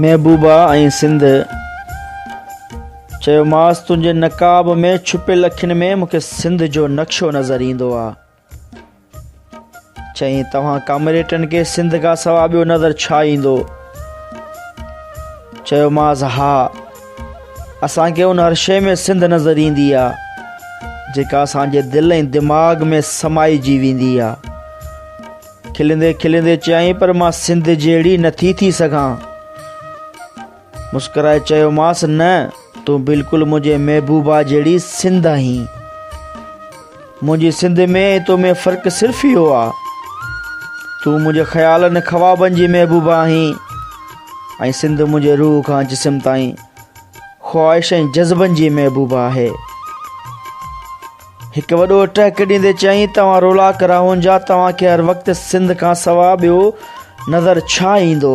محبوبا ۽ سنڌ چيوماس تنهنجي نقاب ۾ ڇپيل اکين ۾ مون کي سنڌ جو نقشو نظر ايندو آهي چيائين توهان ڪامريٽن کي سنڌ کان سوا ٻيو نظر ڇا ايندو چيوماس ها اسان کي ان هر شيء ۾ سنڌ نظر ايندي آ جيڪا اسان جي دل ۽ دماغ ۾ سمائجي ويندي آ کلندي کلندي چيائين پر مان سنڌ جهڙي نٿي ٿي سگهان مسڪرائي چيومانس نه تون بلڪل منهنجي محبوبا جهڙي سنڌ آهين منهنجي سنڌ ۾ ۽ تو ۾ فرق صرف اهو آ تون منهنجي خيالن ۽ خوابن جي محبوبا آهين ۽ سنڌ منهنجي روح کان جسم تائين خواهش ۽ جذبن جي محبوبا آهي هڪ وڏو ٽهڪ ڏيندي چيائين توهان رولا ڪراهون جا توهان کي هر وقت سنڌ کان سوا ٻيو نظر ڇا ايندو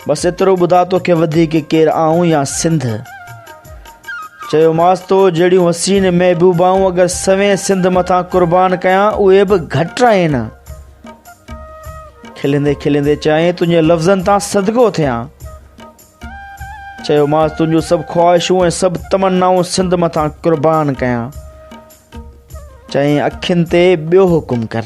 بس ايترو ٻڌاء توکي وڌيڪ ڪير آئون يا سنڌ چيوماس تو جهڙيون حسين محبوبائون اگر سوين سنڌ مٿان قربان ڪيان اهي به گهٽ آهن کلندي کلندي چيائين تنهنجي لفظن تان صدقو ٿيان چيوماس تنهنجون سڀ خواهشون ۽ سڀ تمنائون سنڌ مٿان قربان ڪيان چئين اکين تي ٻيو حڪم ڪر.